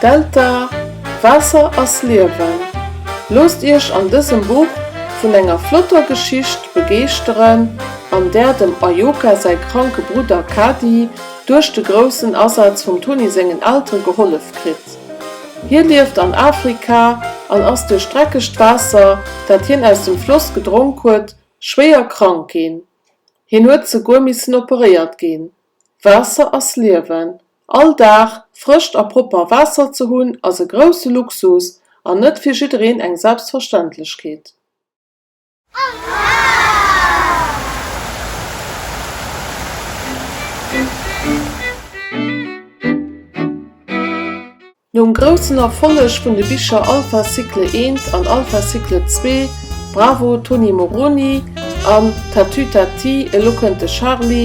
Delta, Waasser ass Liewen! Loosst Iech an dësem Buch vun enger flotter Geschicht begeeschteren, an där dem Ayoka säi kranke Brudder Kadi duerch de groussen Asaz vum Tony sengen Eltere gehollef kritt. Hie lieft an Afrika an ass duerch dreckegt Waasser, dat hien aus dem Floss gedronk huet, schwéier krank ginn. Hien huet souguer missen operéiert ginn. Waasser ass Liewen. All Dag frëscht a propper Waasser ze hunn, ass e grousse Luxus an net fir jiddereen eng Selbstverständlechkeet. Nom groussen Erfolleg vun de Bicher Alpha Cycle Eent an Alpha Cycle Zwee, Bravo Tony Moroni an Tatütati e lo kënnt de Charly,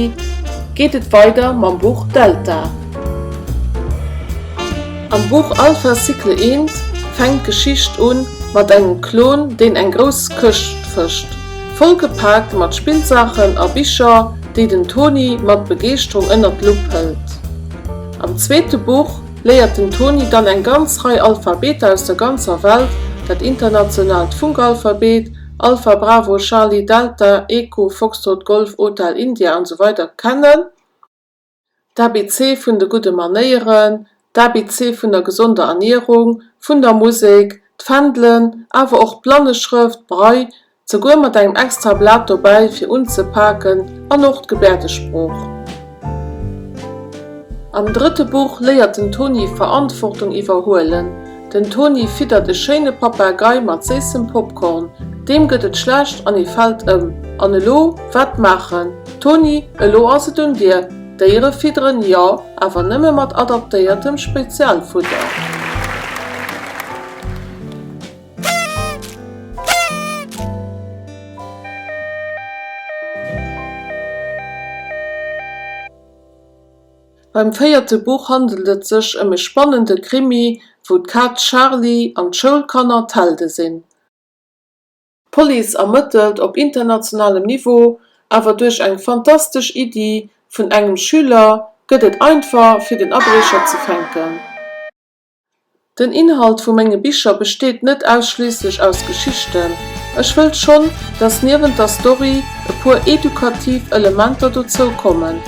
geet et weider mam Buch Delta. Am Buch Alpha Cycle I fänkt d'Geschicht un mat engem Klon, deen eng grouss Këscht fëscht, vollgepaakt mat Spillsaachen a Bicher, déi den Toni mat Begeeschterung ënnert d'Lupp hëlt. Am zweete Buch léiert den Toni dann eng ganz Rei Alphabeter aus der ganzer Welt, dat internationaalt Funkalphabet, Alpha Bravo Charlie Delta Echo Foxtrot Golf Hotel India an esou weider kennen. D'ABC vun de gudde Manéieren, d'ABC vun der gesonder Ernierung, vun der Musek, d'Fändelen, awer och d'Blanneschrëft, Braille, souguer mat engem extra Blat dobäi fir unzepaken, an och d'Gebäerdesprooch. Am drëtte Buch léiert den Toni Verantwortung iwwerhuelen, Den Toni fiddert e schéine Papagei mat séissem Popcorn. Deem gëtt et schlecht an e fält ëm. An elo? Wat maachen? Toni, elo ass et un dir! D'Déiere fidderen, jo, awer nëmme mat adaptéiertem Spezialfudder. Beim véierte Buch handelt et sech ëm e spannende Krimi, wou d'Kaz Charly an d'Schoulkanner d'Helde sinn. D'Police ermëttelt op internationalem Niveau, awer duerch eng fantastesch Iddi vun engem Schüler gëtt et einfach fir den Abriecher ze fänken. Den Inhalt vu menge Bicher besteet net ausschliisslech aus Geschichten. Ech wëll schonn, dass niewent der Story e puer edukativ Elementer dozou kommen.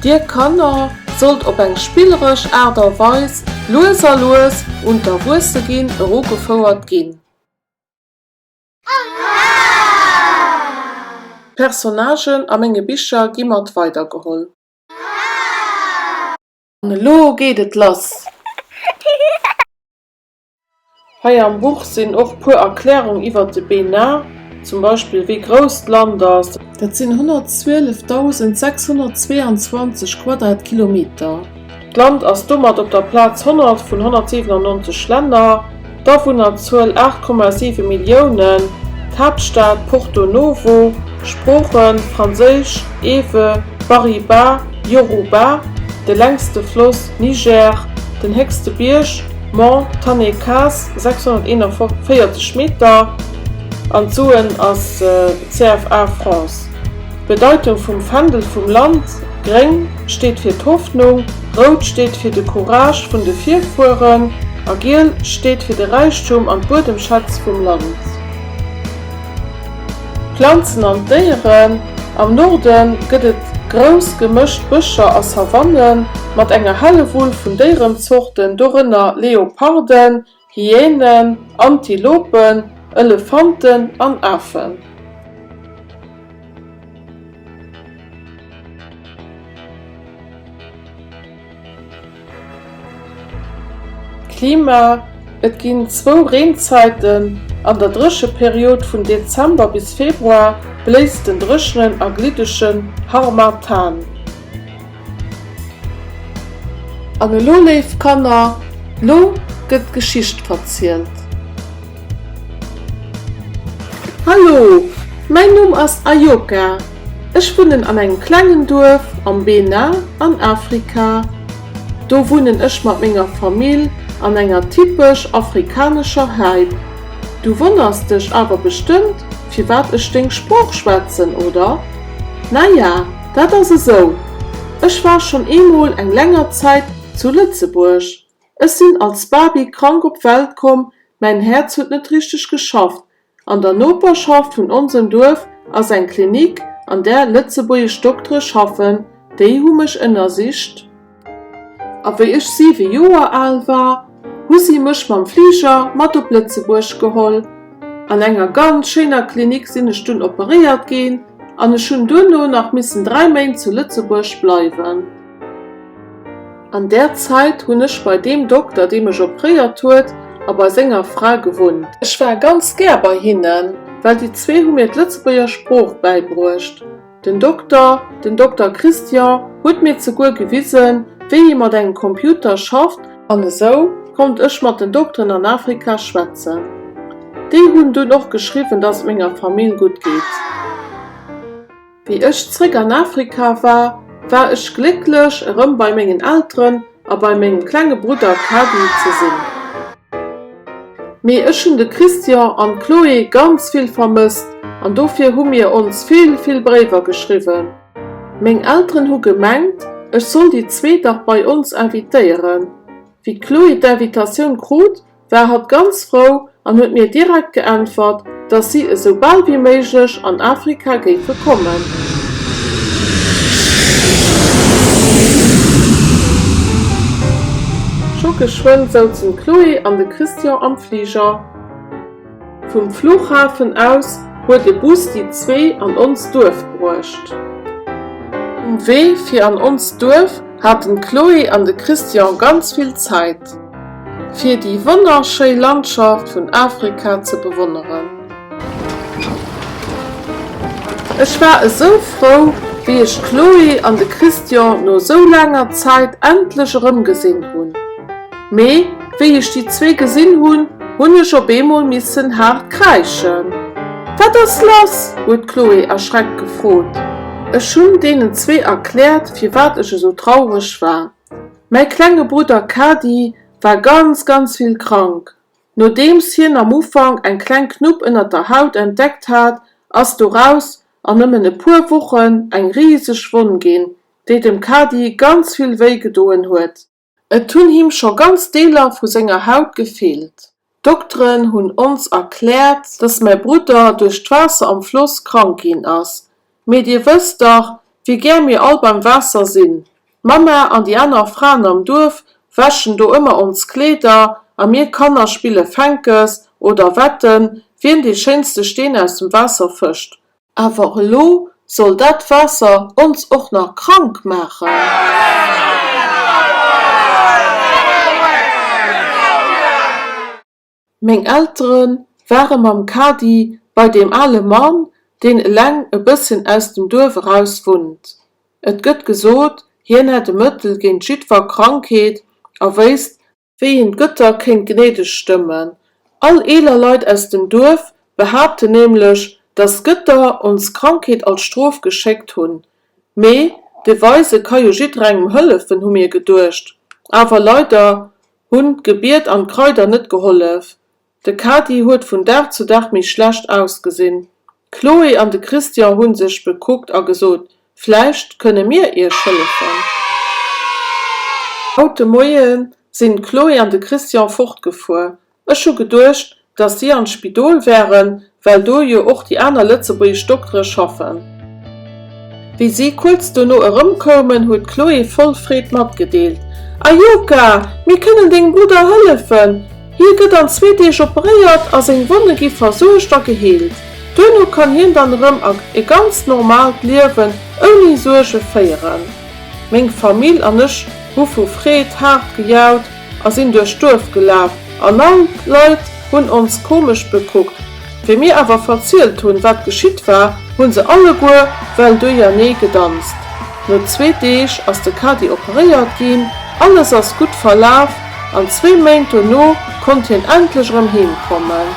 Dir Kanner sollt op eng spilleresch Aart a Weis lues a lues un d'Erwuesseginn erugefouert ginn. D'Personnagen a menge Bicher gi mat weidergeholl. An elo geet et lass! Hei am Buch sinn och puer Erklärung iwwert de BNA, zum Beispill wéi grouss d'Land ass. Dat sinn 112.622 Quadratkilometer. D'Land ass domat op der Plaz 100 vun 197 Länner. D'Awunnerzuel 8,7 Milliounen, d'Haaptstad Porto Novo, Sprooche, Franséisch, Ewe, Bariba, Yoruba, de längste Floss, Niger, den héchste Bierg, Mont Tannekaz, 641 Meter, an d'Suen ass CFA Francs. D'Bedeitung vum Fändel vum Land, Gréng steet fir d'Hoffnung, Rout steet fir de Courage vun de Virfueren a Giel steet fir de Räichtum an d'Buedemschätz vum Land. D'Planzen an d'Déieren, Am Norde gëtt et grouss gemëscht Bëscher a Savannen mat enger Hellewull vun Déierenzorten, dorënner Leoparden, Hyänen, Antilopen, Elefanten an Afen. Klima, Et ginn zwou Reenzäiten, an der Drécheperiod vun Dezember bis Februar bléist den dréchenen a gliddegen Harmattan. An elo, léif Kanner, lo gëtt d'Geschicht verzielt. Hallo, mäin Numm ass Ayoka. Ech wunnen an engem klengen Duerf am Benin an Afrika. Do wunnen ech mat menger Famill an enger typesch afrikanescher Häip. Du wonners dech awer bestëmmt, firwat ech deng Sprooch schwätzen, oder? Naja, Dat ass esou, ech war schonn eemol eng länger Zäit zu Lëtzebuerg. Ech sinn als Baby krank op d'Welt komm, mäin Häerz huet net richteg geschafft. An der Noperschaft vun onsem Duerf ass eng Klinik, an där lëtzebuergesch Doktere schaffen. Déi hu mech ënnersicht. A wéi ech siwe Joer al war, hu si mech mam Fliger mat op Lëtzebuerg geholl. An enger ganz schéiner Klinik sinn ech dunn operéiert ginn an ech hunn duerno nach missen dräi Méint zu Lëtzebuerg bleiwen. An där Zäit hunn ech bei deem Dokter, dee mech operéiert huet, a bei senger Fra gewunnt. Ech war ganz gär bei hinnen, well déi zwee hu mir d'Lëtzebuerger Sprooch bäibruecht. Den Dokter, den Dokter Christian, huet mir zeguer gewisen, wéi ee mat engem Computer schafft, an esou konnt ech mat den Dokteren an Afrika schwätzen, déi hunn dunn och geschriwwen, dass et menger Famill gutt geet. Wéi ech zréck an Afrika war, war ech glécklech, erëm bei mengen Elteren A bei mengem klenge Brudder Kadi ze sinn. Mee ech hunn de Christian an d'Chloé ganz vill vermësst an dofir hu mir ons vill, vill Bréiwer geschriwwen. Meng Elteren hu gemengt, ech soll déi zwee dach bei ons invitéieren. Wéi d'Chloé d'Invitatioun krut, war hatt ganz frou an huet mir direkt geäntwert, dass si esou bal wéi méiglech an Afrika géife kommen. Scho geschwënn souzen d'Chloé an de Christian am Fliger. Vum Fluchhafen aus huet e Bus déi zwee an ons Duerf bruecht. Um Wee fir an ons Duerf haten d'Chloé an de Christian ganz vill Zäit, fir déi wonnerschéi Landschaft vun Afrika ze bewonneren. Ech war esou frou, wéi ech d'Chloé an de Christian no esou laanger Zäit endlech erëmgesinn hunn. Mee wéi ech déi zwee gesinn hunn, hunn ech op eemol missen haart kräischen. Wat ass lass? huet d'Chloé erschreckt gefrot. Ech hunn deenen zwee erkläert, firwat ech esou traureg war. Mäi klenge Brudder Kady war ganz, ganz vill krank. Nodeems hien am Ufank eng kleng Knupp ënner der Haut entdeckt hat, ass doraus an nëmmen e puer Wochen eng riseg Wonn ginn, déi dem Kady ganz vill wéi gedoen huet. Et hunn him scho ganz Deeler vu senger Haut gefeelt. D'Dokteren hunn ons erkläert, dass mäi Brudder duerch d'Waasser am Floss krank ginn ass. Mee dir wësst dach, wéi gär mir all beim Waasser sinn. D'Mamma an déi aner Fraen am Duerf wäschen do ëmmer ons Kleeder a mir Kanner spille Fänkes oder wetten, wien dee schéinste Steen aus dem Waasser fëscht. Awer elo soll dat Waasser ons och nach krank maachen! Meng Eltere ware mam Kadi bei deem ale Mann, deen eleng e bësschen aus dem Duerf eraus wunnt. Et gëtt gesot, hien hätt e Mëttel géint jiddwer Krankheet a wéisst, wéi hien d'Gëtter kéint gnädeg stëmmen. All eeler Leit aus dem Duerf behaapten nämlech, datt d'Gëtter ons Krankheet als Strof geschéckt hunn. Mee de Weise ka jo jidderengem hëllefen, hu mir geduecht. Awer leider hunn d'Gebiet an d'Kraider net gehollef. De Kadi huet vun Dag zu Dag méi schlecht ausgesinn. D'Chloé an de Christian hu sech bekuckt a gesot, Vläicht kënne mir iech hëllefen. Haut de Moie sinn d'Chloé an de Christian fortgefuer. Ech hu geduecht, datt si an d'Spidol wären, well do jo och déi aner lëtzebuergesch Doktere schaffen. Wéi si kuerz dono erëmkoumen, huet d'Chloé voll Freed matgedeelt, A Joka, mir kënnen dengem Brudder hëllefen! Hie gëtt an zwee Deeg operéiert a seng Wonne gi versuergt a geheelt. Duerno kann hien dann erëm a e ganzt normaalt Liewen ouni Suerge féieren. Meng Famill an ech hu vu Freed haart gejaut. A sinn duerch d'Duerf gelaf an all d'Leit hunn ons komesch bekuckt. Wéi mir awer verzielt hunn, wat geschitt war, hu se alleguer well duerjernee gedanzt. No zwee Deeg ass de Kadi operéiert ginn, alles ass gutt verlaf an zwee Méint duerno konnt hien endlech erëm heem kommen.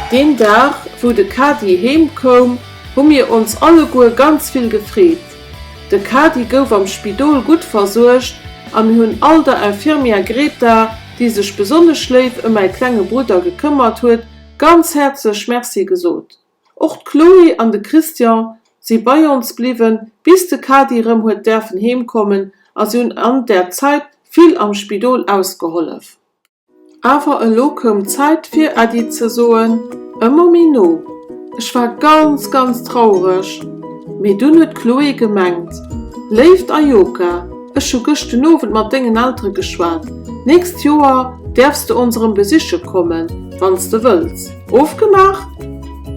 Deen Dag, wou de Kadi heem koum, hu mir ons alleguer ganz vill gefreet. De Kadi gouf am Spidol gutt versuergt a mir hunn all der Infirmière Greta, déi sech besonnesch léif ëm mäi klenge Brudder gekëmmert huet, ganz häerzlech Merci gesot. Och d'Chloé an de Christian si bei ons bliwwen, bis de Kadi erëm huet däerfen heemkommen a si hunn an där Zait vill am Spidol ausgehollef. Awer elo koum d'Zäit fir Äddi ze soen, ëmmer méi no. Ech war ganz, ganz traureg. Mee dunn huet d'Chloé gemengt, Léift Ayoka, ech hu gëscht den Owend mat dengen Eltere geschwat, d'nächst Joer däerfs de ons erëm besiche kommen, wann s de wëlls. Ofgemaach?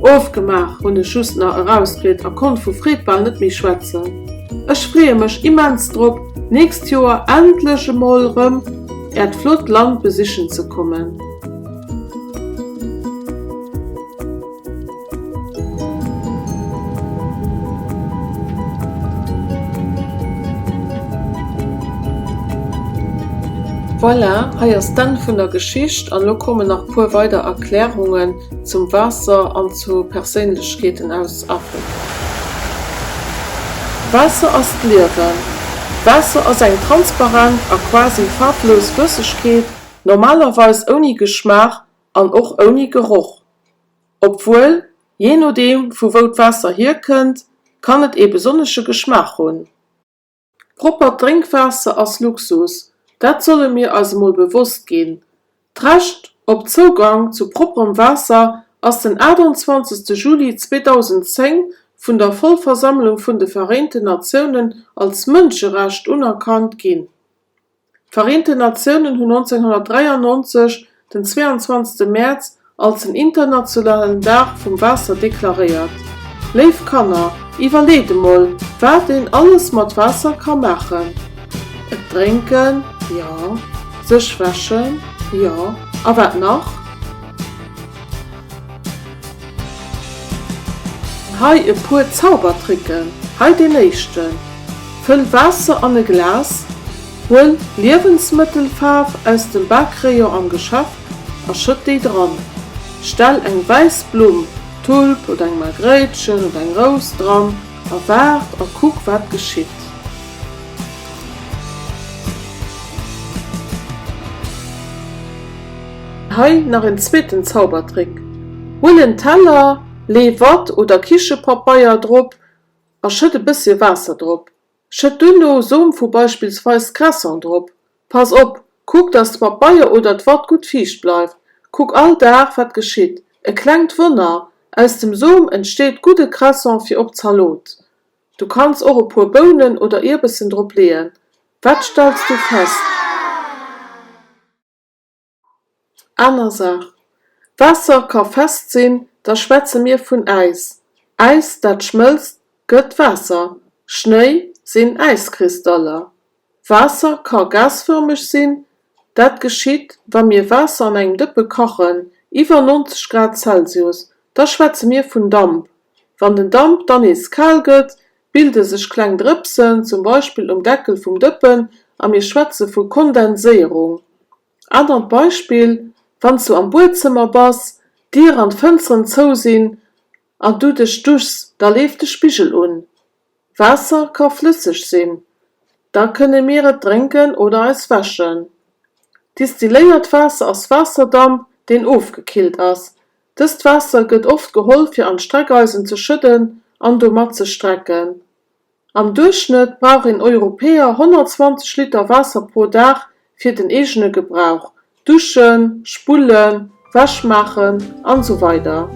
Ofgemaach! hunn ech just nach erausgritt a konnt vu Freed bal net méi schwätzen. Ech freeë mech immens drop, d'nächst Joer endlech emol erëm. Äert flott Land besichen ze kommen. Voilà, hei ass d'Enn vun der Geschicht an lo kommen nach puer weider Erklärungen Zum Waasser an zu Perséinlechkeeten aus Afrika. Waasser ass d'Liewen! Waasser ass eng transparent a quasi faarflos Flëssegkeet, normalerweis ouni Geschmaach an och ouni Geroch. Obwuel, jee nodeem vu wou d'Waasser hierkënnt, kann et ee besonnesche Geschmaach hunn. Proppert Drénkwaasser ass Luxus, dat solle mir eis emol bewosst ginn. D'Recht op Zougang zu propperem Waasser ass den 28 Juli 2010 vun der Vollversammlung vun de Vereenten Natiounen als Mënscherecht unerkannt ginn. D'Vereenten Natiounen hunn 1993 den 22 Mäerz als den internationalen Dag vum Waasser deklaréiert. Léif Kanner, iwwerleet emol, wat een alles mat Waasser ka maachen. Et drénken, jo. Sech wäschen, jo. A wat nach? Hei e puer Zaubertricken. Hei deen éischten. Fëll Waasser an e Glas, huel Liewensmëttelfaarf aus dem Bakerayon am Geschaff a schëtt déi dran. Stell eng wäiss Blumm, Tulp oder eng Margréitchen oder eng Rous, dran a waart a kuck wat geschitt. Hei nach en zweeten Zaubertrick, Huel en Teller, lee Watt oder Kichepapeier drop a schëtt e bësschen Waasser drop. Schëtt duerno Som vu beispillsweis Cresson drop. Pass op, kuck dass d'Pabeier oder d'Watt gutt fiicht bleift. Kuck all Dag wat geschitt. E klengt Wonner, aus dem Som entsteet gudde Cresson fir op d'Zalot. Du kanns och e puer Bounen oder Ierbessen drop leeën. Wat stells du fest? Aner Saach, Waasser ka fest sinn, da schwätze mir vun Äis. Äis, dat schmëlzt, gëtt Waasser. Schnéi sinn Äiskristaller. Waasser ka gasfërmeg sinn, dat geschitt, wa mir Waasser an engem Dëppe kachen, iwwer 90 Grad Celsius, da schwätze mir vun Damp. Wann den Damp dann nees kal gëtt, bilde sech kleng Drëpsen, zum Beispill um Deckel vum Dëppen, a mir schwätze vu Kondenséierung. Anert Beispill, Wann s du am Buedzëmmer bass, d'Dier an d'Fënsteren zou sinn an du dech duchs, da leeft de Spigel un. Waasser ka flësseg sinn, da kënne mir et drénken oder eis wäschen. Distilléiert Waasser ass Waasserdamp, deen ofgekillt ass. Dëst Waasser gëtt oft geholl fir an d'Streckeisen ze schëdden an domat ze strecken. Am Duerchschnëtt brauch een Europäer 120 Liter Waasser pro Dag fir den eegene Gebrauch, Duschen, Spullen, Wäsch maachen an esou weider.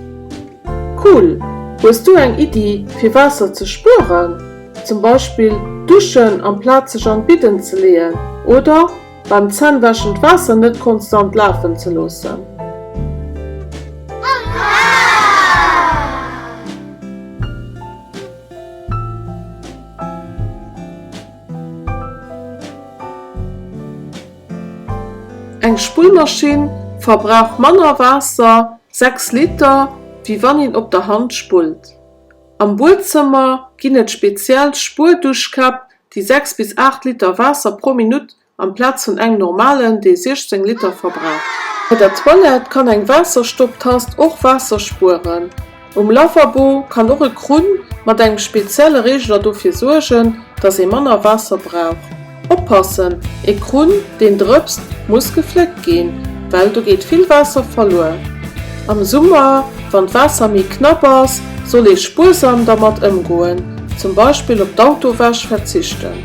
Cool! Hues du eng Iddi fir Waasser ze spueren? Zum Beispill duschen amplaz sech an d'Bidden ze leeën oder? Beim Zännwäschen d'Waasser net konstant lafen ze loossen. Eng Spullmaschinn verbrauch manner Waasser, 6 Liter, wéi wann een op der Hand spullt. Am Buedzëmmer ginn et speziell Spuerduschkäpp déi 6 bis 8 Liter Waasser pro Minutt amplaz vun engem normalen, dee 16 Liter verbraucht. Bei der Toilette kann eng Waasserstopptast och Waasser spueren. Um Lavabo kann och e Krunn mat engem spezielle Reegeler dofir suergen, dass ee manner Waasser brauch. Oppassen, E Krunn, deen drëpst, muss gefléckt ginn, well do geet vill Waasser verluer. Am Summer, wann d'Waasser méi knapp ass, Soll ee spuersam dermat ëmgoen, zum Beispill op d'Autowäsch verzichten?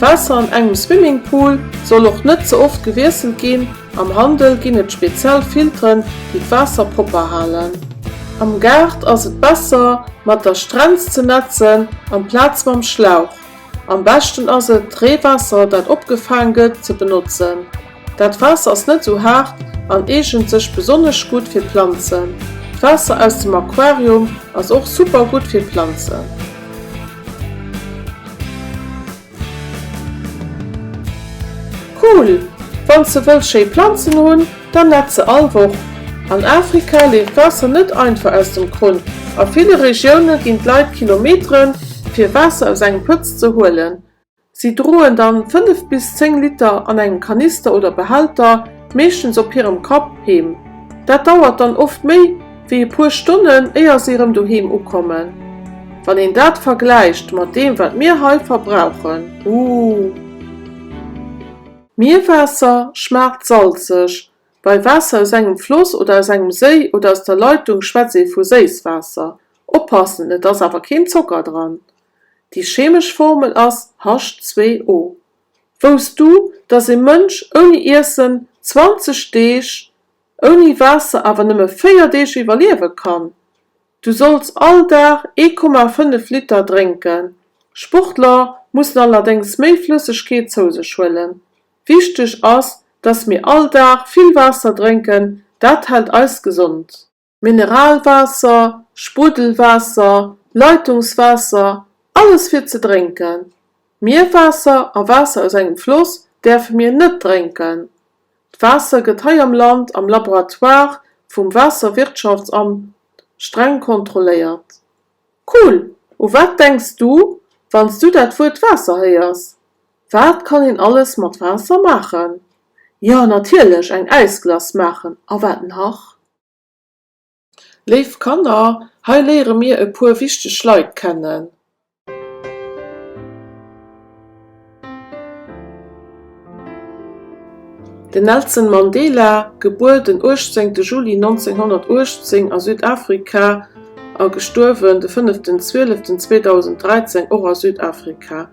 D'Waasser an engem Swimmingpool soll och net ze oft gewiesselt ginn, am Handel ginn et speziell Filteren, déi d'Waasser propper halen. Am Gaart ass et besser, mat der Strenz ze nätzen amplaz mam Schlauch. Am beschten ass et, d'Reewaasser, dat opgefaang gëtt, ze benotzen. Dat Waasser ass net esou haart an eegent sech besonnesch gutt fir Planzen. D'Waasser aus dem Aquarium ass och super gutt fir Planzen. Cool! Wanns de wëlls schéi Planzen hunn, dann net se all Woch. An Afrika leeft Waasser net einfach aus dem Krunn. A ville Regioune ginn d'Leit Kilometeren, fir Waasser aus engem Pëtz ze huelen. Si droen dann 5 bis 10 Liter an engem Kanister oder Behälter, meeschtens op hirem Kapp, heem. Dat dauert dann oft méi wéi e puer Stonnen éier si erëm doheem ukommen. Wann een dat vergläicht mat deem wat mir hei verbrauchen, uh! Mierwaasser schmaacht salzeg, bei Waasser aus engem Floss oder aus engem Séi oder aus der Leitung schwätzt ee vu Séisswaasser. Oppassen, et ass awer keen Zocker dran. Déi chemesch Formel ass H2O. Wousst du, dass ee Mënsch ouni Iessen 20 Deeg, ouni Waasser awer nëmme 4 Deeg iwwerliewe kann? Du solls all Dag 1,5 Liter drénken. Sportler mussen allerdéngs méi Flëssegkeet zou sech huelen. Wichteg ass, dass mir all Dag vill Waasser drénken, dat hält eis gesond. Mineralwaasser, Spruddelwaasser, Leitungswaasser, alles fir ze drénken. Mierwaasser a Waasser aus engem Floss däerfe mir net drénken. D'Waasser gëtt hei am Land am Laboratoire vum Waasserwirtschaftsamt streng kontrolléiert. Cool! U wat denks du, wann s du dat Wuert Waasser héiers? Wat kann een alles mat Waasser maachen? Jo, natierlech eng Äisglace maachen a wat nach? Léif Kanner, hei léiere mir e puer wichteg Leit kennen. Den Nelson Mandela, gebuer den 18 Juli 1918 a Südafrika a gestuerwen de 5 Desember 2013, och a Südafrika.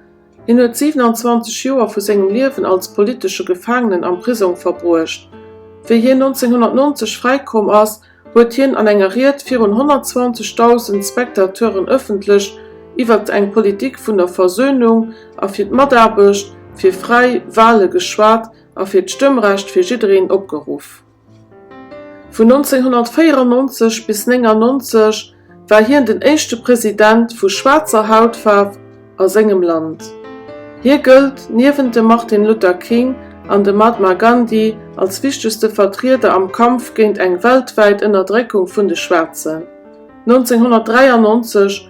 Hien huet 27 Joer vu sengem Liewen als politesche Gefaangenen am Prisong verbruecht. Wéi hien 1990 fräikomm ass, huet hien an enger Ried virun 120.000 Spectateuren ëffentlech iwwert eng Politik vun der Versöhnung a fir d'Mataarbecht fir fräi Wale geschwat a fir d'Stëmmrecht fir jiddereen opgeruff. Vun 1994 bis 1999 war hien den éischte President vu schwaarzer Hautfaarf a sengem Land. Hie gëllt niewent dem Martin Luther King an dem Mahatma Gandhi als wichtegste Vertrieder am Kampf géint eng weltwäit Ënnerdréckung vun de Schwaarzen. 1993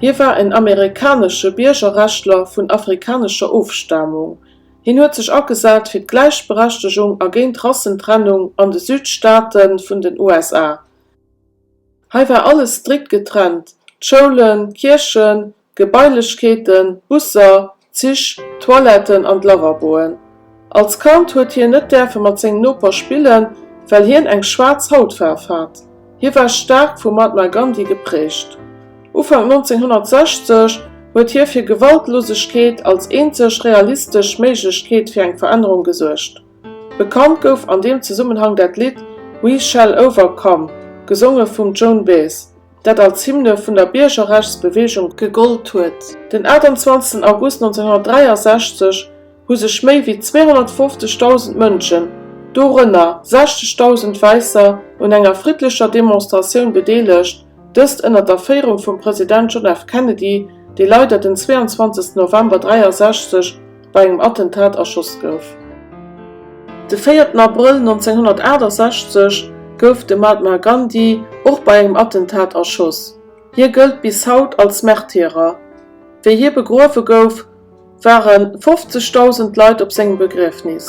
Hie war en amerikanesche Biergerrechtler vun afrikanescher Ofstamung. Hien huet sech agesat fir d'Gläichberechtegung a géint Rassentrennung an de Südstaate vun den USA. Hei war alles strikt getrennt, d'Schoulen, d'Kierchen, d'Gebailechkeeten, d'Busser, D'Zich, d'Toiletten an d'Lavaboen. Als Kand huet hien net däerfe mat sengem Noper spillen, well hien eng schwaarz Hautfaarf hat. Hie war staark vum Mahatma Gandhi geprägt. Ufank 1960 huet hie fir Gewaltlosegkeet als eenzeg realistesch Méiglechkeet fir eng Verännerung gesuergt. Bekannt gouf an deem Zesummenhang dat Lidd We Shall Overcome, gesonge vum Joan Baez. dat als Hymne vun der Biergerrechtsbeweegung gegollt huet. Den 28 August 1963 hu sech méi wéi 250.000 Mënschen, dorënner 60.000 Wäisser, un enger friddlecher Demonstratioun bedeelegt, dëst ënner der Féierung vum President John F. Kennedy, dee leider den 22 November 1963 bei engem Attentat erschoss gouf. De véierten Abrëll 1968 gouf de Mahatma Gandhi och bei engem Attentat erschoss. Hie gëllt bis haut als Märtyrer. Wéi hie begruewe gouf, ware 50.000 Leit op sengem Begriefnis.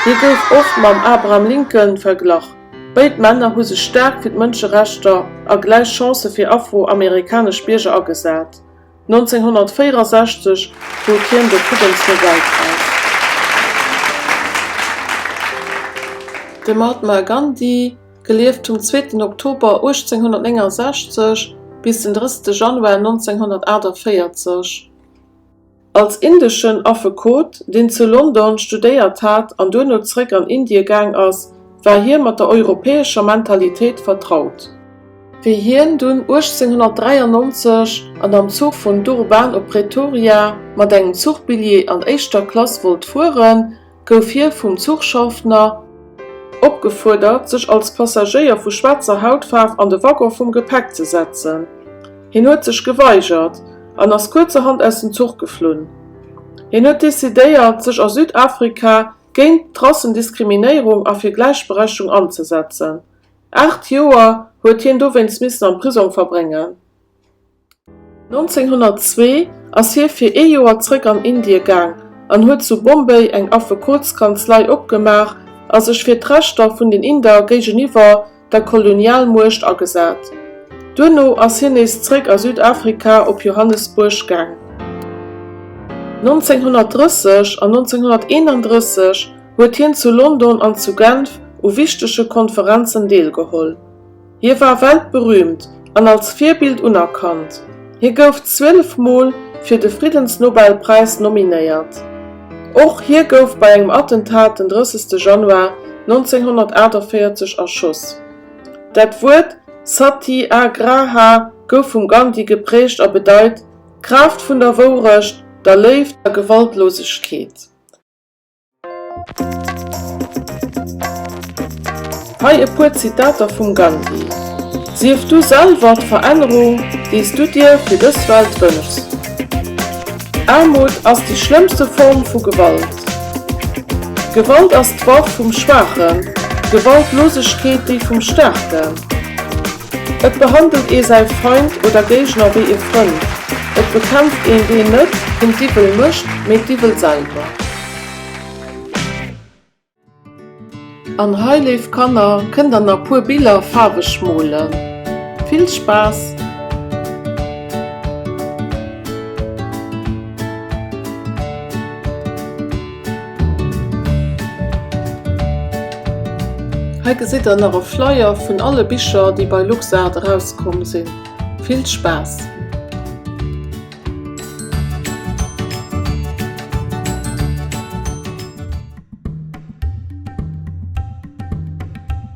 Hie gouf oft mam Abraham Lincoln verglach. Béid Männer hu sech staark fir d'Mënscherechter a gläich Chancë fir afro-amerikanesch Bierger agesat. 1964 krut hien de Friddensnobelpräis. De Mahatma Gandhi, gelieft vum zweeten Oktober 1869 bis den drësste Januar 1948, als indeschen Affekot, deen zu London studéiert hat an duerno zeréck an Indie gaang ass, war hie mat der europäescher Mentalitéit vertraut. Wéi hien dunn 1893 an am Zuch vun Durban op Pretoria mat engem Zuchbilljee an éischter Klass wollt fueren, gouf hie vum Zuchschaffner, opgefuerdert sech als Passagéier vu schwaarzer Hautfaarf an de Waggon vum Gepäck ze setzen. Hien huet sech geweigert an ass kuerzerhand aus dem Zuch geflunn. Hien huet decidéiert sech a Südafrika géint d'Rassendiskriminierung a fir Gläichberechtigung anzesetzen. Aacht Joer huet hien dowéinst missen am Prisong verbréngen. 1902 ass hie fir ee Joer zréck an Indie gaang an huet zu Bombay eng Affekotskanzlei opgemaach a sech fir d'Rechter vun den Inder géigeniwwer der Kolonialmuecht agesat. Duerno ass hien nees zréck a Südafrika op Johannesbuerg gaang. 1930 an 1931 huet hien zu London an zu Genf u wichtege Konferenzen deelgeholl. Hie war weltberüümt an als Virbild unerkannt. Hie gouf 12 Mol fir de Friddensnobelpräis nominéiert. Och hie gouf bei engem Attentat den 30 Januar 1948 erschoss. Dat Wuert Sati Agraha gouf vum Gandhi geprägt a bedeit, d'Kraaft vun der Wourecht, der Léift a Gewaltlosegkeet. Hei e puer Zitater vum Gandhi, Sief du selwer d'Verännerung, déi s du dir fir dës Welt wënschs. Aarmut ass déi schlëmmste Form vu Gewalt. Gewalt ass d'Waff vum Schwaachen, Gewaltlosegkeet déi vum Staarken. Et behandelt ee säi Feind oder Géigner wéi ee Frënd. Et bekämpft een deen net den Diwwel mécht, mee d'Diwwel selwer. An hei, léif Kanner, kënnt der na puer Biller faarweg molen. Vill Spaass! Hei gesitt der nach e Flyer vun alle Bicher déi bei LuxArt erauskomm sinn. Vill Spaass!